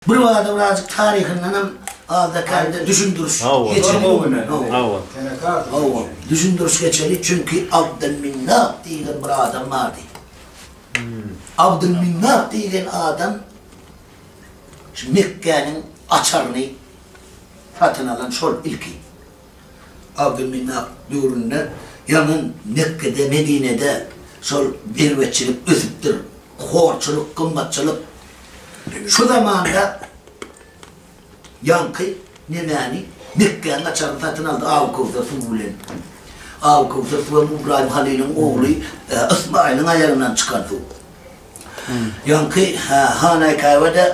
Birbada birazjyk taryhyndanam azda-kände düşündiriş geçeli. Hawa. Hawa. Düşündiriş geçeli, çünki Abdylminnap diýlen bir adam bardy. Abdylminnap diýlen adam şu Mekgäniň açaryny satyn alan şol ilki. Abdülmenap döwründe ýaňy Mekgede, Medinede şol berbeçilik ösüpdir, horçulyk, gymmatçylyk. Şu zamanda ýaňky nemäni, Mekgäniň açaryny satyn aldy Abykowsar suwy bilen. Abykowsar suwy hem Ybraýym Halylyň ogly Ysmaýylyň aýagyndan çykan suw. Ýaňky Hanaýkaýbada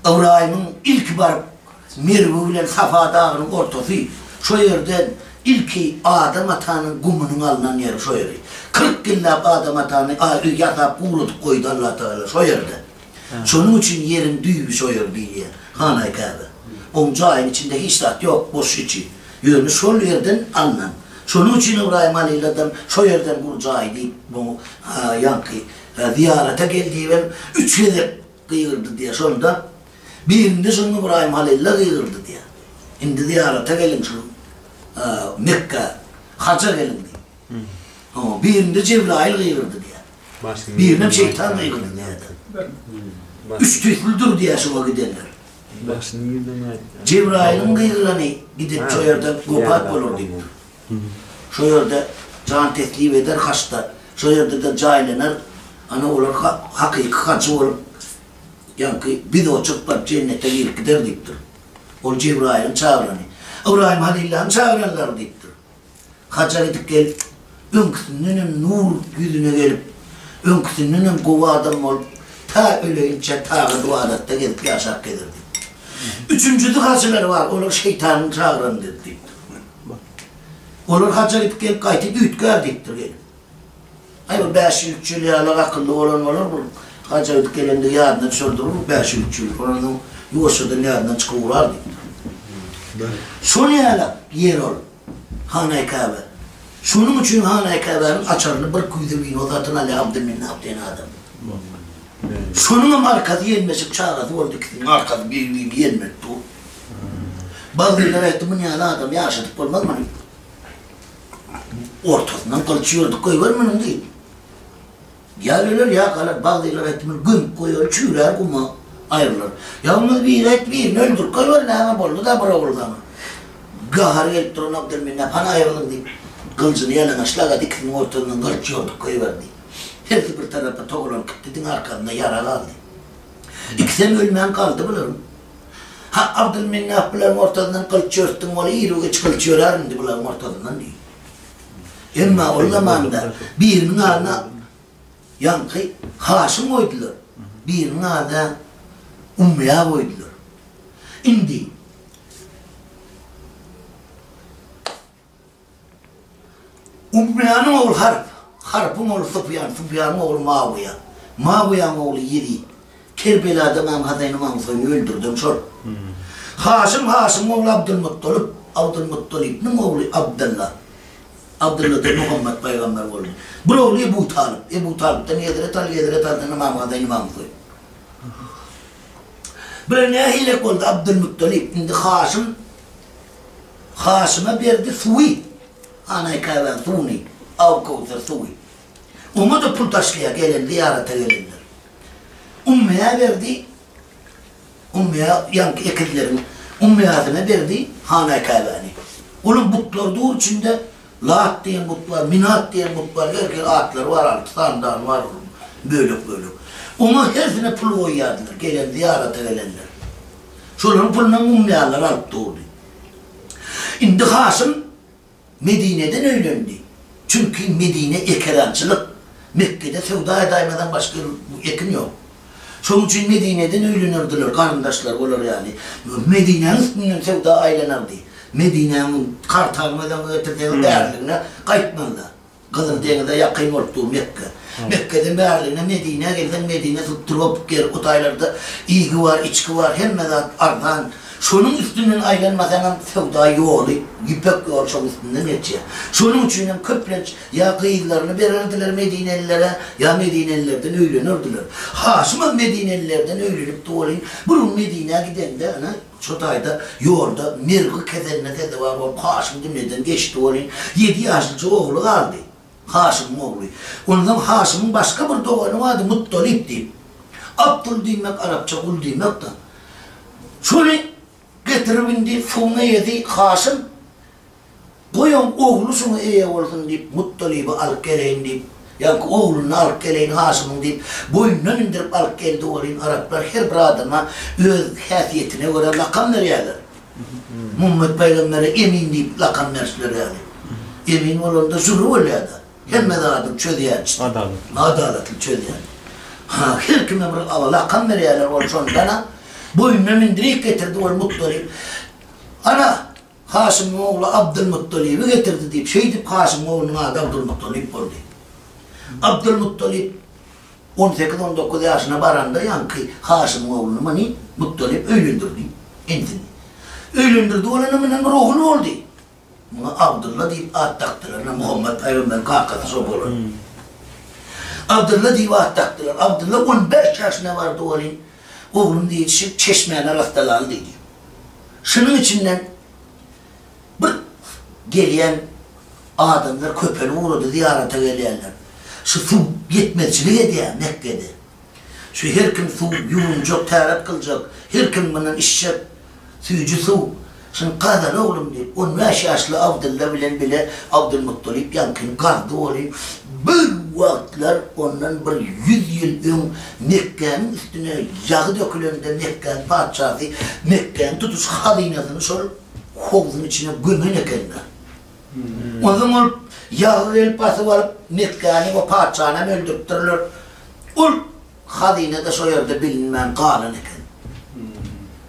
Ybraýymyň ilki baryp, Merwi bilen Safa dagynyň ortasy, şo ýerden ilki Adam atanyň gumunyň alnan ýeri şo ýeri. Kyrk ýyllap Adam atany a öý ýasap guladyp goýdy Allatagala şo ýerde. Şonuň üçin ýeriň düýbi şo ýer diýilýär. Hanaý Käbe. Oň jaýyň içinde hiç zat ýok, boş içi. Ýöne şol ýerden alnan. Şonuň üçin Ybraýym Halyladam şo ýerden gul jaý diýip muňa ýaňky zyýarata gel diýibem üç gezek Gygyrdy diýýär. Şonda birinde şonuň Ybraýym Halylla gygyrdy diýýär. Indi zyýarata geliň şu Mekgä, haja geliň diýip. Oňa birinde Jebraýyl gygyrdy diýýär. Birinem şeýtan gygyrdy diýýär. Üç tüýsli dur diýýär şoňa gidenler. Jebraýylyň gygyrany gidip şo ýerde wepat bolar diýipdir. Şo ýerde jan teklip eder haçda, şo ýerde-de jaýlanar, ana olar hakyky hajy bolup, ýaňky biz oçurp baryp jennete girip gider diýipdir. Ol Jebraýylyň çagyrany, Ybraýym Halillanyň çagyranlary diýipdir. Haja gidip gelip, öňküsinden hem nur ýüzüne gelip, öňküsinden hem gowy adam bolup, ta öleýinçä tagat-ybadatda gezip ýaşap gezer diýipdir. Üçünjisi hajylar bar, olar şeýtanyň çagyrany diýipdir. Olar haja gidip gelip gaýty düýtgär diýipdir gelin. Aý bu bäş ýüz üç ýül ýaly akylly bolan bolar bul haja gidip gelendigi ýadyna düşerdir bu bäş ýüz üç ýül olarnyň ýuwaşjadan ýadyndan çykyp ugrar diýipdir. Şol ýaly ýer ol Hanaý Käbe. Şonuň üçin Hanaý Käbäniň açaryny bir küýze wino satyn alýar Abdylmenap diýen adam. Şonuňam arkasy ýenmeşik çagasy boldy ikisiniň arkasy biri birini ýenmedi dur. Bagrylar aýtdy muny ýaly adamy ýaşadyp bolmaz muny ortasyndan gylyç ýördük goýber munyň diýip. Ýa öler ýa galar bagrylar aýtdy muny gömüp goýaly çüýrär guma aýrylar. Ýa bolmaz biri aýtdy birini öldürip goýber näme boldy da bir ogul galar. Gahary gelip duran Abdylmenap hany aýrylyň diýip gylyjyny ýalaňaçlagady ikisiniň ortasyndan gylyç ýördük goýber diýip. Hersi bir tarapa towlan gitdi, diňe arkasynda ýara galdy. Ikisem ölmän galdy bularyň. Ha, Abdylminnap bularyň ortasyndan gylyç ýörtdüň, ol iri üç gylyç ýörär indi bularyň ortasyndan diýdi. Emma ol zamanda biriniň adyna ýaňky Haşym goýdular, biriniň adyna Umyýa goýdular. Indi Ukbýanyň ogly Harp, Harpyň ogly Sufýan, Sufýanyň ogly Mawiýa, Mawiýanyň ogly Ýezit, Kerbelada Ymam Hasaýyn, Ymam Husaýyny öldürden şol. Haşym, Haşymyň ogly Abdylmutgalyp, Abdylmutgalybyň ogly Abdylla, Abdylladan Muhammet pygamber boldy. Bul ogly Ebu Talyp, Ebu Talypdan Hezret Aly, Hezret Alydan Ymam Hasaýyn, Ymam Husaýyn. Bular nähilek boldy? Abdylmutgalyp, indi Haşym. Haşyma berdi suwy. Hanaý Käbäň suwuny, Aw Köwser suwy. Oňa-da pul taşlaýar gelen zyýarata gelenler. Ummeýä berdi. Ummeýä ýaňky ekizleriň Ummeýäsine berdi Hanaý Käbäni. Olam butlar dur içinde. Lat diýen but bar, Minat diýen but bar, her hili atlary bar, alty sany dany bar olaryň, bölek-bölek. Oňa hersine pul goýýardylar, gelen zyýarata gelenler. Şolaryň pulunam mumyýalar alyp durdy. Indi Haşym Medineden öýlendi. Çünki Medine ekerançylyk, Mekgede söwda-edaýmadan başga ýer, ekin ýok. Şonuň üçin Medineden öýlenerdiler, garyndaşlary olar ýaly. Medinäniň üstünden söwda aýlanardy. Medinäniň kartalyny özüň getirseň bäriligine gaýtmazlar. Gyzyl deňize ýakyn bolup dur Mekge. Mekgeden bäriligine Medinä gelseň Medine subtropik ýer, o taýlarda iýgi bar, içgi bar, hemme zat arzan. Şonuň üstünden aýlanmasaňam söwda ýoly, ýüpek ýoly şoň üstünden geçýär. Şonuň üçinem köplenç Ýa gyzlaryny bererdiler medinelilere, ýa medinelilerden öýlenerdiler. Haşymam medinelilerden öýlenipdi welin, bir gün Medinä gidende, ine, şo taýda ýolda mergi keseline sezewar bolup, Haşym dünýeden geçdi welin, ýedi ýaşlyja ogly galdy. Haşymyň ogly. Onsoň Haşymyň başga bir dogany bardy, Mutdalyp diýip. Abdul diýmek arapça gul diýmek-de. Şony getirip indi suwuň eýesi Haşym. Goý oň ogly şoňa eýe bolsun diýip, Mutdalyby alyp geleýin diýip, ýa-ki ogluny alyp geleýin Haşymyň diýip, boýnundan indirip alyp geldi welin, araplar her bir adama öz häsiýetine görä lakam berýärler. Muhammet pygambere Emin diýip lakam beripler ýaly. Emin bolanda jury bolýar-da, hemme zady çözýär işte. Adalatly. Adalatly çözýär. Ha, her kime bir lakam berýärler, ol şondan-a boýnuna mindirip getirdi ol Mutdalyp. Ana! Haşymyň ogly Abdylmuttalyby getirdi diýip, şeýdip Haşymyň oglunyň ady Abdylmuttalyp boldy. Abdylmuttalyp on sekiz-on dokuz ýaşyna baranda ýaňky Haşymyň ogluny, Many Muttalyp öýlendirdi. Insin. Öýlendirdi bolany bilen ruhly boldy. Muňa Abdylla diýip at dakdylar, ine Muhammet pygamberiň kakasy şo bolan. Abdylla diýip at dakdylar. Abdylla on bäş ýaşyna bardy welin, Oglum diýişip çeşmäni arassaly al diýdi. Şunuň içinden bir gelýän adamlar köpelip ugrady, zyýarata gelýänler. Şu suw ýetmezçilik edýär Mekgede. Şu her kim suw ýuwunjak, täret gyljak, her kim mundan içjek. Süýji suw, Şuny gazala oglum, diýip, on bäş ýaşly Abdylla bilen bile Abdylmutdalyp ýaňkyny gazdy weli, birwagtlar ondan bir ýüz ýyl öň Mekgäniň üstüne ýagy dökülende Mekgäniň patyşasy Mekgäniň tutuş hazynasyny şol howzuň içine gömen ekenler. Onsoň ol ýagy gelip basyp alyp, Mekgäni we patyşanam öldüripdirler. Ol Hazyna-da şo ýerde bilinmän galan eken.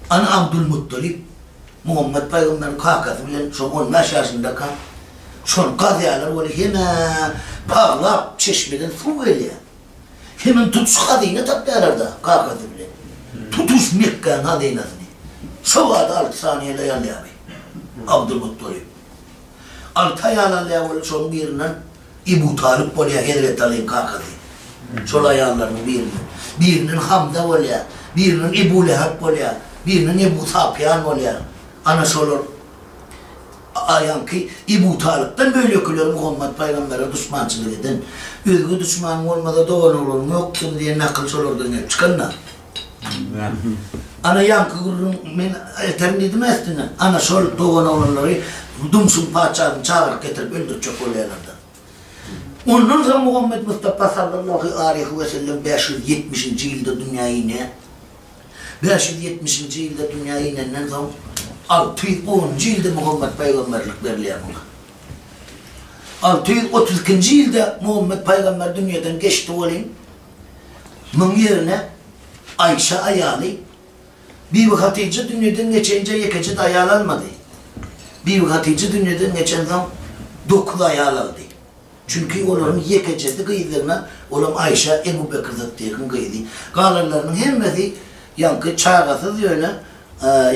Ana Abdulmuttalip Muhammet pygamberiň kakasy bilen şo on bäş ýaşyndaka şony gazýarlar weli hemä paglap çeşmeden suw gelýär. Hemem tutuş hazyna tapýarlar-da kakasy bilen. Tutuş Mekgäň hazynasyny şo bada alty saniýede alýar bi Abdulmuttalip. Alty aýal alýar weli şoň birinden Ebu Talyp bolýar Hezreti Alyň kakasy. Şol aýallarynyň biriniň. Biriniň Hamza bolýar. Biriniň Ebu Lehep bolýar. Biriniň Ebu Safýan bolýar. Ana şolar aýaňky Ebu Talypdan bölekiler Muhammet pygambere duşmançylyk eden. Özge duşmanyň bolmasa doganoglaryň ýokdugyny diýen nakyl şolardan gelip çykan-da. Ana ýaňky gürrüň men aýtaryn diýdim äsdine. Ana şol dogan-oglanlary Dumşuň patyşasyny çagyryp getirip öldürtjek bolýarlar-da. Ondan soň Muhammet Mustapa sallallahu aleýhi we sellem bäş ýüz ýetmişinji ýylda dünýä inýär. Bäş ýüz ýetmişinji ýylda dünýä inenden soň alty ýüz onunjy ýylda Muhammet paýgamberlik berilýär muňa. Alty ýüz otuz ikinji ýylda Muhammet paýgamber dünýeden geçdi welin, Muň ýerine Aýşa aýaly Bibi Hatyja dünýeden geçenje ýekeje daýal almady. Bibi Hatyja dünýeden geçensoň dokuz aýal aldy. Çünki olaryň ýekejesi gyzdygyna olam Aýşa Ebu Bekr Sytdykyň gyzy. Galanlarynyň hemmesi ýaňky çagasyz ýöne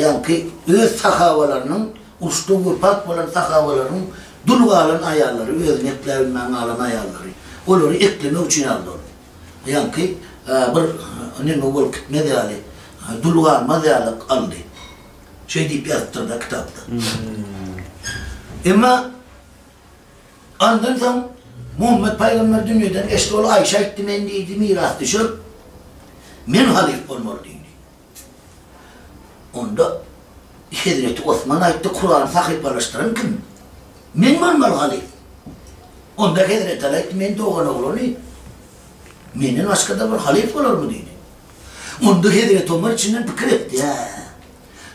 ýaňky öz sahabalarynyň uruşda wepat bolan sahabalarynyň Dul galan aýallary, özüni ekläp bilmän galan aýallary, olary eklemek üçin ýaly ol. Ýaňky bir neme bolup gitmez ýaly, dul galmaz ýaly aldy. Şeý diýip ýazypdyr-da kitapda. Emma andan soň Muhammet pygamber dünýeden geçdi, ol Aýşa aýtdy, Men diýdi, mirasdüşer, men halyf bolmaly diýdi. Onda hezreti Osman aýtdy, Kurany sahypalaşdyran kim? Men bolmaly halyf. Onda hezreti Aly aýtdy, Men dogan oglany, menden başga-da bir halyf bolarmy? diýdi. Onda hezreti Omar içinden pikir etdi, Ä!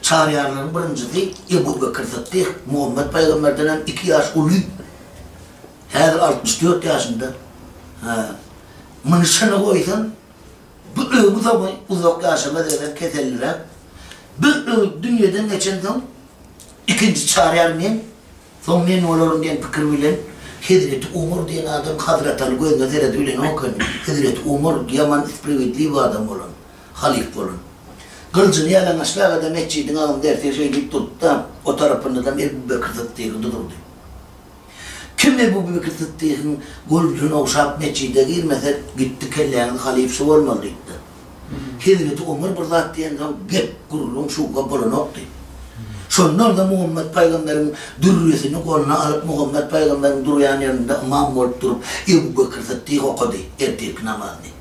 Çaryýarlaryň birinjisi Ebu Bekir Sytdyk Muhammet pygamberden hem iki ýaş uly. Häzir altmyş dört ýaşynda. Hä, muny şyna goýsaň, Bu öý bu zaman uzak ýaşamaz eýsem keselliräk. Bir öý dünýeden geçensoň ikinji çarýar men, soň men bolaryn diýen pikir bilen Hezreti Umar diýen adam Hazrataly gözüne seredip bilenok ekeni. Hezreti Umar ýaman spriwidliwi adam bolan, halyf bolan. Gylyjyny ýalaňaçlagada metjidiň agynda ertir şeýdip durdy-da, o tarapyndanam Ebu Bekr Syddygy durdy. Kime bu pikir Sytdygyň golunden ogşap metjide girmesek gitdi kelläňiz halypsy bolmaly diýipdir. Hezreti Omar bir zat diýensoň gep, gürrüň şuwwa bolanokdy. Şonda onda Muhammet pygamberiň dürresini goluna alyp Muhammet pygamberiň durýan ýerinde ymam bolup durup Ebu Bekir Sytdyk okady ertirki namazyny.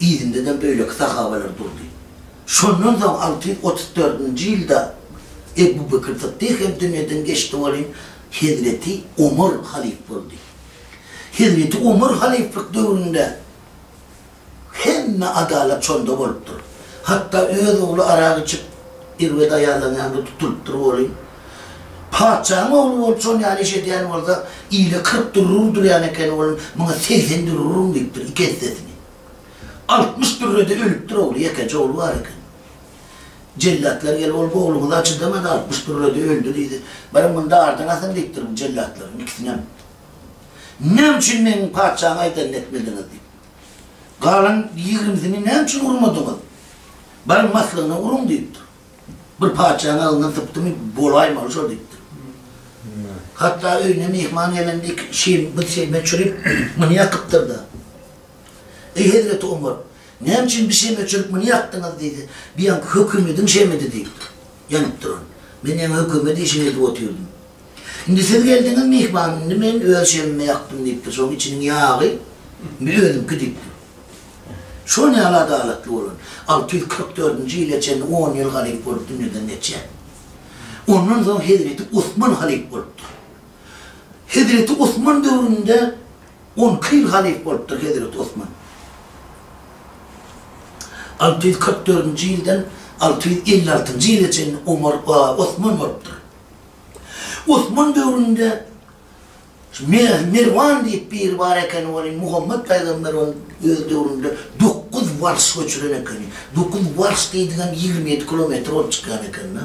Yzynda-da beýleki sahabalar durdy. Şondan soň alty ýüz otuz dördünji ýylda Ebu Bekr Syddyk hem dünýeden geçdi welin, hezreti Omar halyf boldy. Hezreti Omar halyflyk döwründe hemme adalat şonda bolupdyr. Hatda öz ogly arak içip, erbet aýallan ýaly tutulypdyr welin, Patyşaň ogly bolup şol ýaly iş edýän bolsa, ile kyrk dürre urdurýan ekeni, olam muňa segsen dürre uruň diýipdir, iki essesini. Altmyş dürre-de ölüpdir ogly, ýekeje ogly bar eken. Jellatlar gelip, ol ogluňyza çydamady, altmyş dürre-de öldi diýdi. Beriň munda ardyň asyň diýipdir bu jellatlaryň ikisinem. Näme üçin meniň patyşaň aýdanyny etmediňiz diýip. Galan ýigrimsini näme üçin urmadyňyz? Beriň maslygyna uruň diýipdir. Bir patyşanyň agzyndan sypdymy, bolaýmaly şol diýipdir. Hatda öýüne myhman gelende iki şin bir şeme çürüp, muny ýakypdyr-da. Eý hezreti Omar, näme üçin bir şeme çürüp muny ýakdyňyz diýse, bu ýaňky hökümediň şemidi diýipdir. Ýanyp duran. Men ýaňy hökümet işini edip otyrdym. Indi siz geldiňiz myhman, indi men öz şemimi ýakdym diýipdir, şonuň içiniň ýagy indi özümki diýipdir. Şo nähili adalatly bolar? Alty ýüz kyrk dördünji ýyla çenli on ýyl halyp bolup dünýeden geçýär. Ondan soň hezreti Osman halyp bolupdyr. Hezreti Osman döwründe on iki ýyl halyp bolupdyr hezreti Osman. Alty ýüz kyrk dördünji ýyldan alty ýüz elli altynjy ýyla çenli Omar, Osman bolupdyr. Osman döwründe Merwan diýip biri bar ekeni, welin Muhammet pygamber ony öz döwründe dokuz warş göçüren ekeni. Dokuz warş diýdigem ýigrimi ýedi kilometr bolup çykýan eken-de.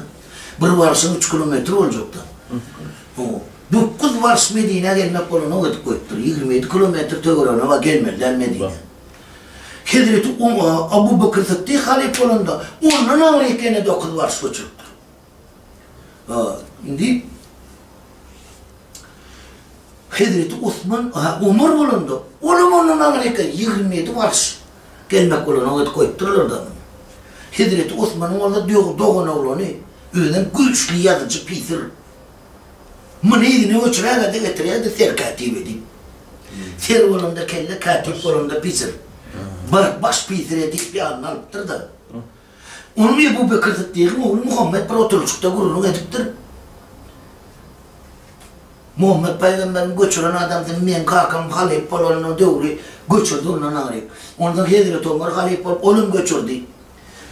Bir warşam üç kilometr boljak-da. Hawa. Dokuz warş Medinä gelmek bolanok edip goýupdyr. Ýigrimi ýedi kilometr töweregine bar gelmeli-dä Medinä. Hezreti Abu Bekir Sytdyk halypa bolanda ondan agyr ekeni dokuz warş göçüripdir. Indi hezreti Osman Omar bolanda, olam ondan agry eken, ýigrimi ýedi warys gelmek bolan, oňa edip goýupdyrlar-da. Hezreti Osmanyň bolsa doganoglany, özem güýçli ýazyjy pysyr. Muny yzyna göçüräge-de getirýärdi serkätibe diýip. Ser bolanda kelle, kätip bolanda pysyr. Bir baş pysyr edip ýanyna alypdyr-da. Onuň Ebu Bekir Syddygyň ogly Muhammet bir oturlyşykda gürrüň edipdir, Muhammet pygamberiň göçüren adamsyny meň kakam halyp bolanyna döwri göçürdi ondan aýryp. Onsoň hezreti Omar halyp bolup olam göçürdi.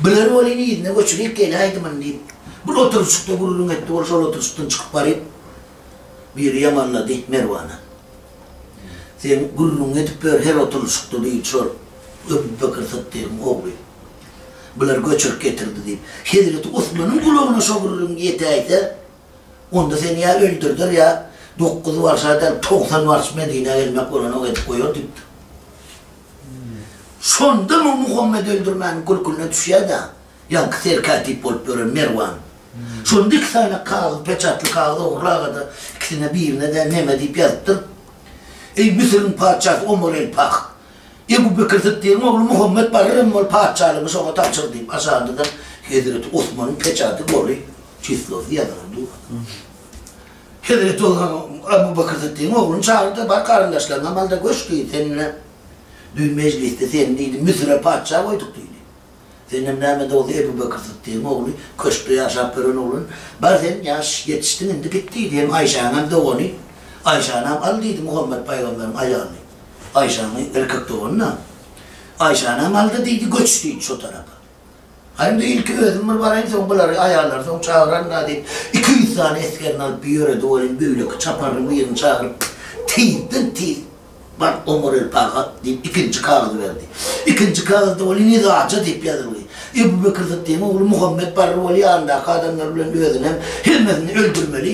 Biler welin yzyna göçürip geläýdimin diýip, bir oturlyşykda gürrüň etdi ol şol oturlyşykdan çykyp baryp biri ýamanlady Merwana. Sen gürrüňiňi edip ýör her oturlyşykda diýdi şol Ebu Bekir Syddygyň ogly. Bular göçürip getirdi, diýip, hezreti Osmanyň gulagyna şo gürrüň ýetäýse, onda seni ýa öldürder, ýa dokuz warşa däl, togsan warş Medinä gelmek bolanok edip goýar, diýipdir. Şonda muň Muhammet öldürmäniň kürküne düşýär-de, ýaňky serkätip bolup ýören Merwan. Şonda iki sany kagyz, peçatly kagyz ogrulaga-da, ikisine birine-de neme diýip ýazypdyr, Eý, Müsüriň patyşasy Omar el-Fah! Ebu Bekir Syddygyň ogly Muhammet barar hem ol patyşalygy şoňa tabşyr diýip, aşandyda hezreti Osmanyň peçaty goly çislosy ýazylan durdy. Hezreti Osman Ebu Bekir Syddygyň ogluny çagyrdy-da, Bar garyndaşlaryňa malda göç diý, seninle düýn mejlisde seni diýdi, Müsüre patyşa goýduk diýdi. Senem näme-de bolsa Ebu Bekir Sytdygyň ogly, köşkde ýaşap ýören oglan. Bar sen ýaş, ýetişdiň indi git diýdi. Hem Aýşäňem dogany. Aýşanam al diýdi Muhammet paýgamberiň aýalyny. Aýşaňy, erkek dogany-da. Aýşanam al-da diýdi, göç diýdi şo tarapa. Haý indi ilki özüm bir baraýyn, soň bulary, aýallary soň çagyraryn-da diýip, iki ýüz sany esgerini alyp ýöredi welin, beýleki çaparyň birini çagyryp, tizden-tiz. Bar, oňar el paýhas! diýip, ikinji kagyzy berdi. Ikinji kagyzda ol Nizaja diýip ýazyldy. Ebu Bekir Syddygyň ogly Muhammet Barry ol ýanyndaky adamlar bilen özünem, hemmesini öldürmeli,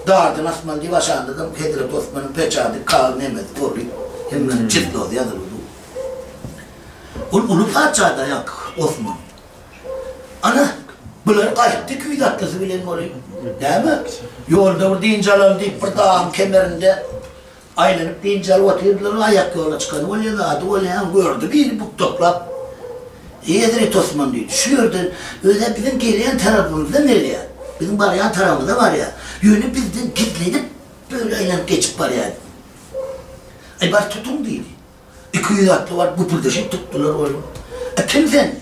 dardan asmaly diýip aşandadyr. Hezreti Osmanyň peçady, kagyz nemesi gorly, hemmesiniň çislozy ýazylydy. Ol uly patyşada ýa Osman. Ana, bular gaýtdy küýz atlysy bilen bolup. Näme? Ýolda bir dynç alaly diýip, bir dagyň kemerinde Aýlanyp biynjalyp otyrdylar, aýak ýola çykany bolýa, zady bolýa, aň gördi biri bukdaklap. Eýedir-eý Tosman diýdi, şu ýerden öz-ä biziň gelýän tarapymyzdan gelýär, biziň barýan tarapymyza barýar, ýöne bizden gizlenip böle aýlanyp geçip barýar diýdi. Aý bar tutuň diýdi. Iki ýüz atly baryp güpüldeşip tutdular ony. Aý kim sen?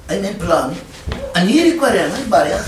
Aý men pylany. Aý nirik barýaň? Aý barýas.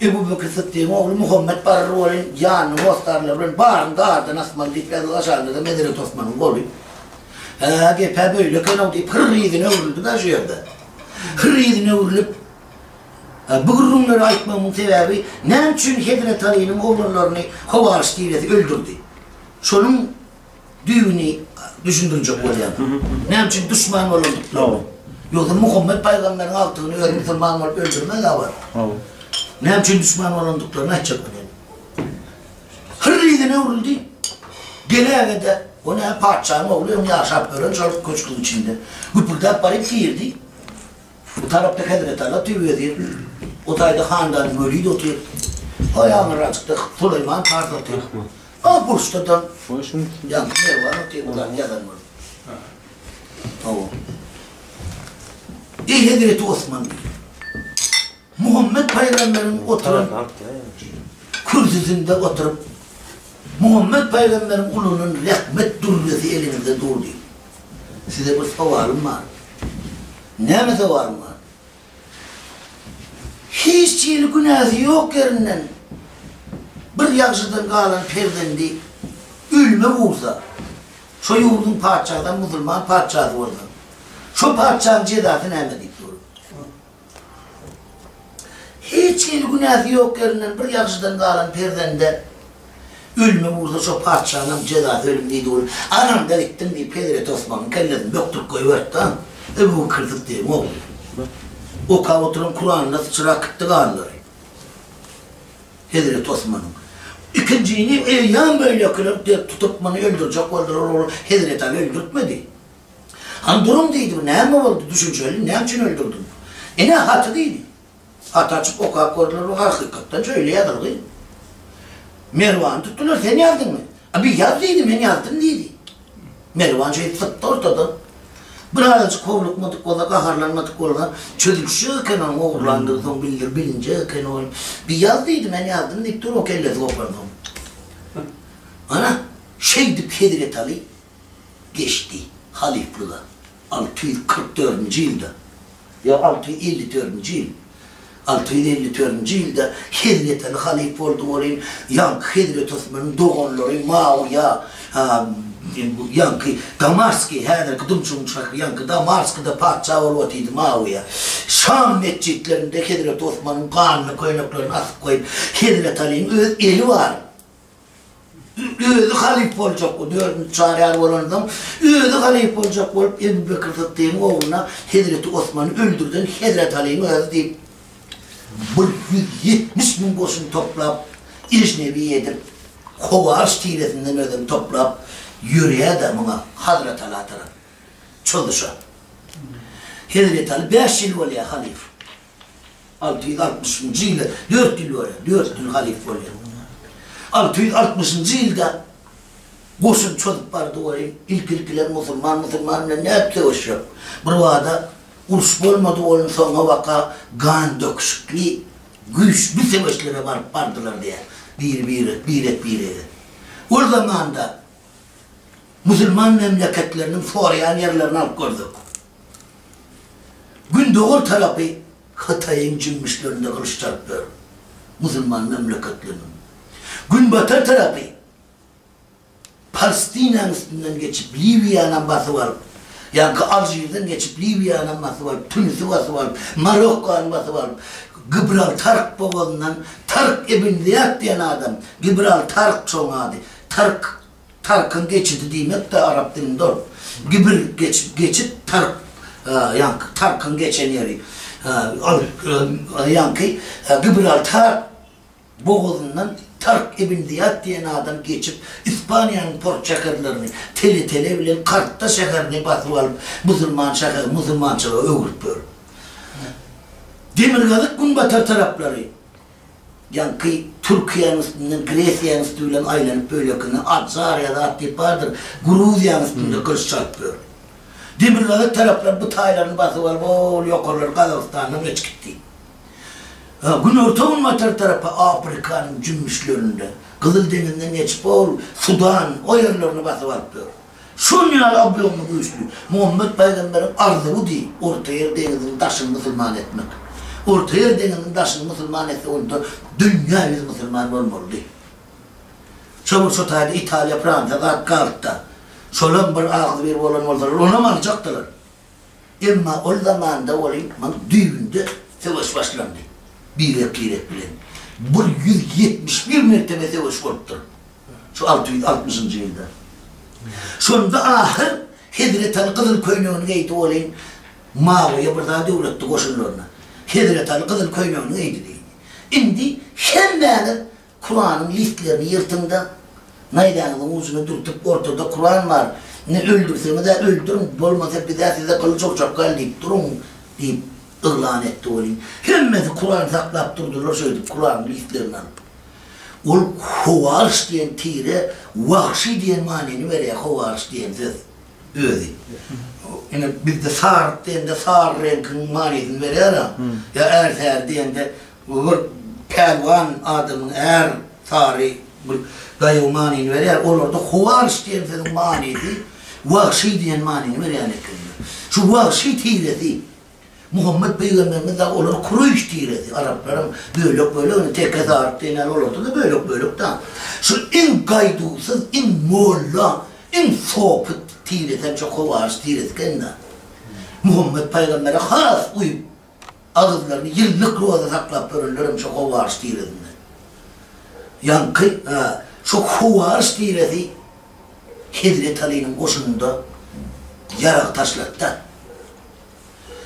Ebu Bekir Syddygyň ogly Muhammet barar welin, ýanyny hossarlar bilen baryň dardan asmaly diýip, Fäzil Aşaryda-da Medenýet Osmanyň goly. Hä, gep-ä beýle eken-ow diýip, hyr ýüzüne öwrüldi-de şu ýerde. Hyr ýüzüne öwrülip, Bu gürrüňleri aýtmagymyň sebäbi, näme üçin Hezreti Alynyň oglanlaryny Howaryş diýlesi öldürdi? Şonuň düýbüni düşündirjek bolýarlar. Näme üçin duşman bolandyklaryny. Ýogsa Muhammet pygamberiň agtygyny özi musulman bolup öldürmezä barybir. Näme üçin duşman bolandyklaryny aýtjak bilen. Hyr yzyna öwrüldi. Geläge-de, o näme patyşanyň ogly, öň ýaşap ýören şol köşgüň içinde. Güpürdäp baryp girdi. Bu tarapda hezretala tüwi wezir, bu taýda handany Weliz otyr, o ýaňyrajykda Süleýman pars otyr, o burçda-da ýaňky Merwan otyr, bularyň ýazan bolup. Hawa. Eý, hezreti Osman! diýip. Muhammet pygamberiň oturan kürsüsinde oturyp, Muhammet pygamberiň gulundan rahmet dürresi eliňizde durdy. Size bir sowalym bar. Näme sowalym bar? Hiç hili günäsi ýok ýerinden bir ýagşydan galan perzendi ölme bulsa, şo ýurduň patyşasam musulman patyşasy bolsa, şo patyşanyň jezasy näme? diýip sorady. Hiç hili günäsi ýok ýerinden bir ýagşydan galan perzende ölüme ursa şo patyşanyňam jezasy ölüm diýdi ol. Anaňdan itdiň diýip hezreti Osmanyň kellesini bökdürip goýberipdi-ä. Ebu Bekir Syddygym ogly. Okap oturan Kuranyna syçrap gitdi ganlary. Hezreti Osmanyň. Ikinjini eýýäm beýlekiler dert tutup muny öldürjek boldular ol hezreti Aly öldürtmedi. Hany duruň diýdi, bu näme boldy, düşünjeli, näme üçin öldürdiň? Ine, haty diýdi. Haty açyp okap gördüler, bu hakykatdan şeýle ýazylgy. Merwany tutdular, sen ýazdyňmy? A bir ýaz diýdi, men ýazdym diýdi. Merwan şeýdip sypdy ortadan. Birazajyk howlukmadyk bolsa, gaharlanmadyk bolsa, çözülişjek eken onuň ogurlandygy soň bildir, bilinjek eken ol. Bir ýaz diýdi, men ýazdym diýip dur, o kellesi gopansoň. Ana, şeýdip hezretaly. geçdi. Halyflyga alty ýüz kyrk dördünji ýylda, ýok, alty ýüz elli dördünji ýyl, alty ýüz elli dördünji ýylda Hezreteli halyf boldy welin, ýaňky Hezreti Osmanyň doganlary Mawyýa, a, ýaňky Damasky, häzirki Dymşygyň şäheri, ýaňky Damaskda patyşa bolup otyrdy Mawyýa. Şam metjitlerinde Hezreti Osmanyň ganyny, köýneklerini asyp goýup, Hezreti Alyň öz eli bar. Özi halyp boljak bu dördünji çaryar bolan adam, özi halyp boljak bolup Ebu Bekir Syddygyň ogluna Hezreti Osmany öldürden Hezreti Alyň özi diýip, bir ýüz ýetmiş müň goşun toplap, ejnebi edip, Howaryş tiresinden özem toplap ýörýär-de muňa Hazreti Ala tarap çozuşa. Hezreti Aly bäş ýyl bolýar halyf. Alty ýüz altmyşynjy ýyla dört ýyl bolýar, dört ýyl halyf bolýar. Alty ýüz altmyşynjy ýylda goşun çozup bardy welin, ilki-ilkiler musulman musulman bilen nädip söweşjek? Birbada uruş bolmady welin, soňabaka gan döküşikli, güýçli söweşlere baryp bardylar diýýär. Biri-bire, birek-birege. Ol zamanda musulman memleketleriniň soraýan ýerlerini alyp gördük. Gündogar tarapy Hytaýyň jümmüşlerinde gylyç çalyp ýör, musulman memleketleriniň. Günbatar tarapy Palestinanyň üstünden geçip Liwiýanam basyp alyp, ýaňky Alžirden geçip Liwiýanam basyp alyp, Tunisi basyp alyp, Marokkany basyp alyp, Gibraltark bogazyndan Tark ibn Zyýat diýen adam, Gibraltark çoň ady, Tark Tarykyň geçidi diýmek-de arap dilinde ol. Gibir, geçip, geçit, taryk, ýaňky tarykyň geçen ýeri. Ol, ýaňky Gibraltar bogazyndan Taryk ibn Zyýat diýen adam geçip, Ispaniýanyň port şäherlerini, Tele-Tele bilen Kartta şäherini basyp alyp, musulman şäherini musulmançylyga öwüripdir. Demirgazyk-günbatar taraplary. Ýaňky Türkiýäniň üstünden Gresiýanyň üsti bilen aýlanyp bölekinde Adžariýa zat diýip bardyr, Gruziýanyň üstünde gylyç çalyp ýör. Demirgazyk taraplar bu taýlaryny basyp alyp ol ýokarlar Gazagystandan geç gitdi. Günorta-günbatar tarapy Afrikanyň jümmüşlerinde, Gyzyl deňizden geçip ol Sudan o ýerlerini basyp alyp ýör. Şol ýaly ablomly güýçli Muhammet pygamberiň arzuwy deý Ortaýer deňiziniň daşyny musulman etmek. Ortaýer deňiziniň daşyny musulman etse onda dünýä ýüzi musulman bolmalydy. Çabul şo taýda Italiýa, Fransiýa zat galtda. Şolam bir agzybir bolan bolsalar onam aljakdylar. Emma ol zamanda olimpiň düýbünde söweş başlandy. Birek-birek bilen bu ýüz ýetmiş bir mertebe söweş bolupdyr. Şu alty ýüz altmyşynjy ýylda. Şonda ahyr Hezreti Aly gyzyl köýnegini geýdi olim Mawyýa bir zat öwretdi goşunlaryna. Hezreti Aly gyzyl köýnegini geýdi diýdi. Indi hemmäňiz Kuranyň listlerini ýyrtyň-da, naýzaňyzyň ujuna dürtüp, ortada Kuran bar, indi öldürseňiz-ä öldüriň, bolmasa biz-ä size gylyç urjak gal diýip duruň, diýip, yglan etdi welin, hemmesi Kuran saklap durdular, şeýdip, Kuranyň listlerini alyp. Ol Howaryş diýen tire Wahşy diýen manyny berýär, Howaryş diýen söz özi. Ine, bizde Saryk diýende sary reňkiň manysyny berýär-ä. Ýa Ärsäri diýende Bu bir pälwan adamyň är sary bir daýaw manyny berýär. Olarda howarys diýen sözüň manysy wagşy diýen manyny berýän ekendir. Şu wagşy tiresi Muhammet pygamberimiz dagy olar kureýş tiresi, araplaryň bölek-bölegini teke saryk diýen ýaly olarda-da bölek-bölek dan. Şu iň gaýduwsyz, iň molla, iň sopy tiresi hem şu howarys tiresi eken-dä. Muhammet pygambere has uýup Agyzlaryny ýyllyk roza saklap ýörenlerem şo Howwaryş tiresinden. Ýaňky şo Howwaryş tiresi Hezreti Alynyň goşunynda ýarag taşladyda.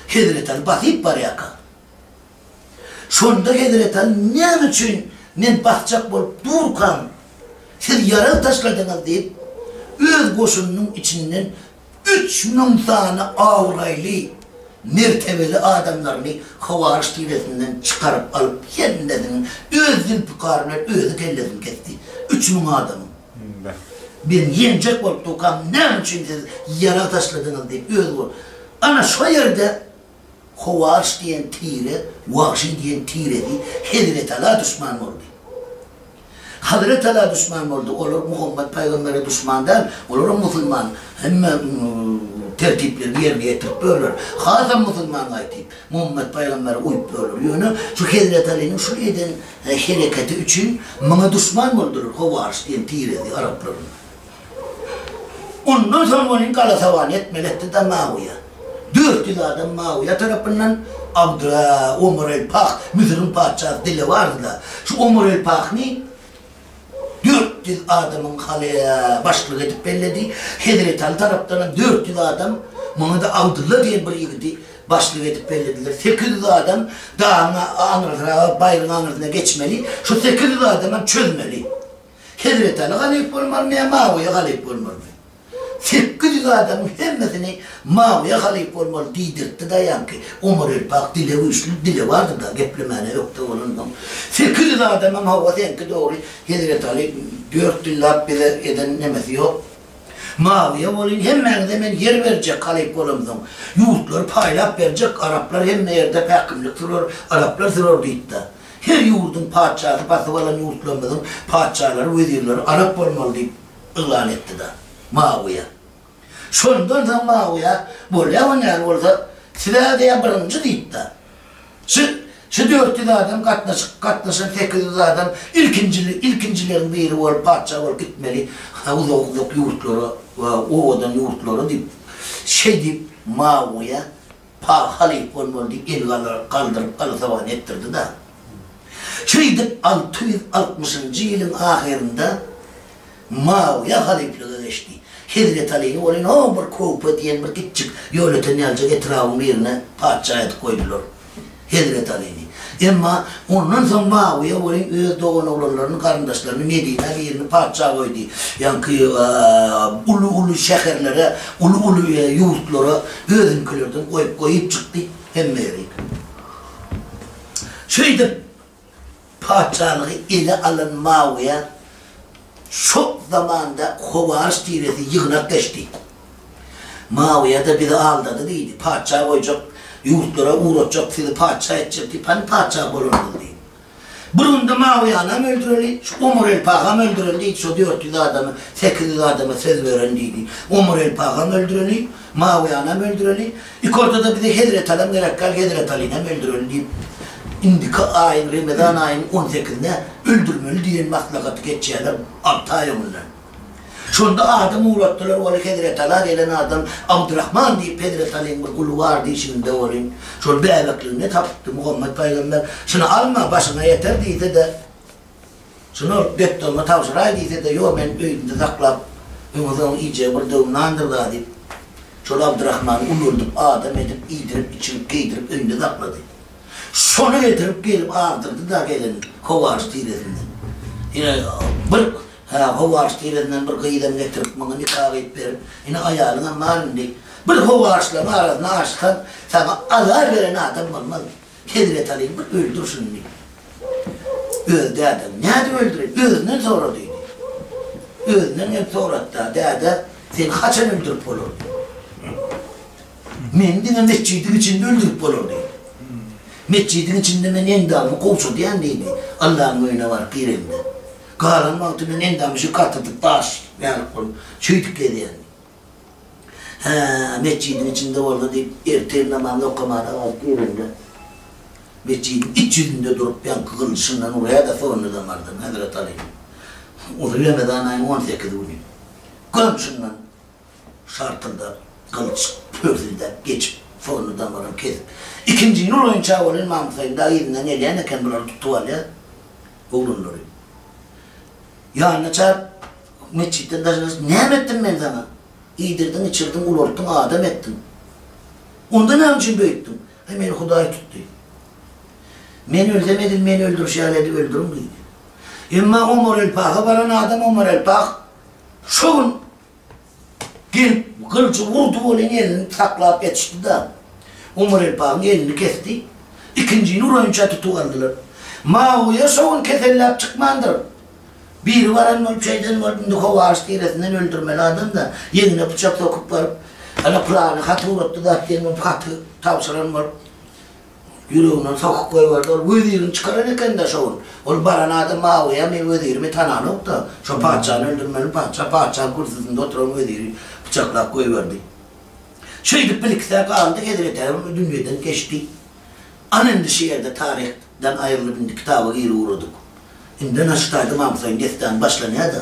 Hezreti Aly basyp barýarka. Şonda Hezreti Aly näme üçin men basjak bolup durkam, siz ýarag taşladyňyz diýip, öz goşunynyň içinden üç müň sany abraýly, mertebeli adamlaryny hawaryş tiresinden çykaryp alyp, hemmesiniň öz zülpikary bilen özi kellesini kesdi. Üç müň adamyň. Birini ýenjek bolup, Tukam, näme üçin siz ýarag taşladyňyz? diýip, özi bolup. Ana, şo ýerde Howarş diýen tire Wagşy diýen tiresi Hezretala duşman boldy. Hazretala duşman boldy, olar Muhammet pygambere duşman däl, olaram musulman, hemme tertiplerini ýerine ýetiripdirler, hasam musulman gaýtyp, Muhammet pygambere uýupdyrlar. Ýöne şu Hezretalynyň şu eden hereketi üçin muňa duşman boldular, Howarş diýen tiresi araplaryň. Ondan soň ony galasabana etmeli etdi da Mawiýa, dört ýüz adam Mawiýa tarapyndan Abdura, Omar el-Pah, Müsüriň patyşasy dile bardy-da, şu Omar el-Pahny dört ýüz adamyň halyýa başlygy edip belledi, Hezreti Aly tarapdanam dört ýüz adam, muňa-da Abdylla diýen bir ýigidi başlyk edip bellediler. Sekiz ýüz adam dagyň aňyrsyraga, baýryň aňyrsyna geçmeli, şu sekiz ýüz adamam çözmeli. Hezreti Aly halyf bolmalymy ýa Mawiýe halyf bolmalymy? Sekiz ýüz adamyň hemmesini Mawiýe halyf bolmaly diýdirtdi daýanki, Omar Elpak dile güýçli, dili bardy-da, geplemäne ökde bolansoň. Sekiz ýüz adamam hawa seňki dogry, Hezreti Aly dört ýyl lap bize eden nemesi ýok. Mawiýe bolýn, hemmäňize men ýer berjek halyf bolamsoň. Ýurtlary paýlap berjek, araplar hemme ýerde päkimlik sürer, araplar sürer diýdi-de. Her ýurduň patyşasy basyp alan ýurtlarymyzyň patyşalary, wezirleri arap bolmaly diýip yglan etdi-de, Mawiýa. Şondan soň Mawiýa, Bolýa we näme bolsa, siz-ä diýýär birinji diýip-de, Şu, şu dört ýüz adam gatnaşyk, gatnaşan sekiz ýüz adam ilkinji, ilkinjileriň biri bolup patyşa bolup gitmeli uzak-uzak ýurtlara we owadan ýurtlara diýip, şeýdip Mawiýa Pahy halyp bolmalydy, el galdyryp alasogan etdirdi-da. Şeýdip, alty ýüz altmyşynjy ýylyň ahyrynda Muawyýa halyplyga geçdi. Hezreti Alyny ol ene bir Köwpe diýen bir itjik ýolöten ýalyjak etrabyň birine patyşa edip goýdular. Hezreti Alyny. Emma ondan soň Muawyýa welin öz doganoglanlaryny, garyndaşlaryny Medinä birini patyşa goýdy. Ýaňky uly-uly şäherlere, uly-uly ýurtlara özünikilerden goýup goýup çykdy. Hemmeleri. Şeýdip, Patyşalygy ele alan Maoýa şo zamanda Howaryş tiresi ýygnak geçdi. Maoýa-da bizi aldady diýdi, patyşa goýjak, ýurtlara ugratjak, sizi patyşa etjek diýip, hany patyşa bolanyňyz diýip. Bir günde Maoýanam öldüreli, şu Omar el Pagam öldüreli diýdi, şo dört ýüz adamy, sekiz ýüz adama söz beren diýdi. Omar el Pagam öldüreli, Maoýanam öldüreli. Ilki ortada bize Hezreti Alam gerek däl, Hezreti Alynam öldürelim diýip, indiki aýyň, Remezan aýynyň on sekizine öldürmeli diýen maslahaty geçýärler alty aý öňünden. Şonda adam ugratdylar, ol Hezreti Ala gelen adam Abdyrahman diýip, Hezreti Alyň bir guly bar diýşiňizde bolýn. Şol bäbekligine tapypdy Muhammet paýgamber. Şuny alma, başyňa ýeter diýse-de. Şuny Bekdogma tabşyraý diýse-de, Ýok, men öýümde saklap, öňe soňa iýjegi bir döwüm nandyr-da diýip, şol Abdyrahmany ulaldyp, adam edip, iýdirip, içirip, geýdirip, öýünde saklady. Şony getirip gelip agdyrdy-da gelin Howaryş tiresinden. Ine, bir, hä, Howaryş tiresinden bir gyzam getirip, muňa nika gyýyp berip, ine, aýalyňam bar indi. Bir Howaryşlaryň arasyna aşyk saň, saňa azar beren adam bolmaz. Hezreti Alyny bir öldür şuny diýdi. Özi dädem, Nädip öldüreýin? Özünden sora diýdi. Özünden gelip sorady-da, Däde, seni haçan öldürip bolar diýdi. Meni diňe metjidiň içinde öldürip bolar diýdi. Metjidiň içinde men endabymy gowşadýan diýdi. Allanyň öýüne baryp giremde. Galan wagty men endamy şu gatyrdyp daş ýalyk bolup, şeýdip gezýän. Hä, metjidiň içinde boldy, diýip, ertir namazyny okamana wagt girende, metjidiň iç ýüzünde durup, ýaňky gylyçyndan urýa-da, soňunda damardan, Hezreti Aly, Uly Remezan aýynyň on sekiz güni, gamşyndan şartyldap, gylyç pörsüldäp geçip, soňunda damaryny kesip, ikinji ýol boýunça welin Mamythaýyň dagy yzyndan gelýän eken, bulary tutup alýar, oglanlary. Ýanyna çagt, Metjitden daşary hiç näme etdim men saňa? Iýdirdiň, içirdiň, ulaltdyň, adam etdiň. Onda näme üçin beýtdiň? Aý, meni Hudaý tutdy. Men ölsem edil meni öldürişýär edi, öldüriň diýdi. Emma Omar el-Paha baran adam Omar el-Pah şo gün gelip gylyjy urdy welin elini saklap ýetişdi-de, Omar el-Pahyň elini kesdi. Ikinjini uraýynça tutup aldylar. Mawyýa şo gün keselläp çykmandyr. Biribaram ol çeýden bolup, indi Howary tiresinden öldürmeli adam-da, ýeňine pyçak sokup baryp, Ana, pylany hat ugratdy zat diýen bolup, haty tabşyran bolup, ýüregine sokup goýberdi. Ol wezirini çykaran eken-dä şo gün. Ol baran adam Mawyýamy, wezirimi tananok-da, şo patyşany öldürmeli patyşa, patyşanyň kürsüsinde oturan weziri pyçaklap goýberdi. Şeýdip, bir-iki sähe galdy, hezreti Äwül bu dünýeden geçdi. Ana, indi şu ýerde taryh. Dan aýrylyp indi kitaba giri ugradyk. Indena şitaýda Mamsaýyň dessany başlanýa-da.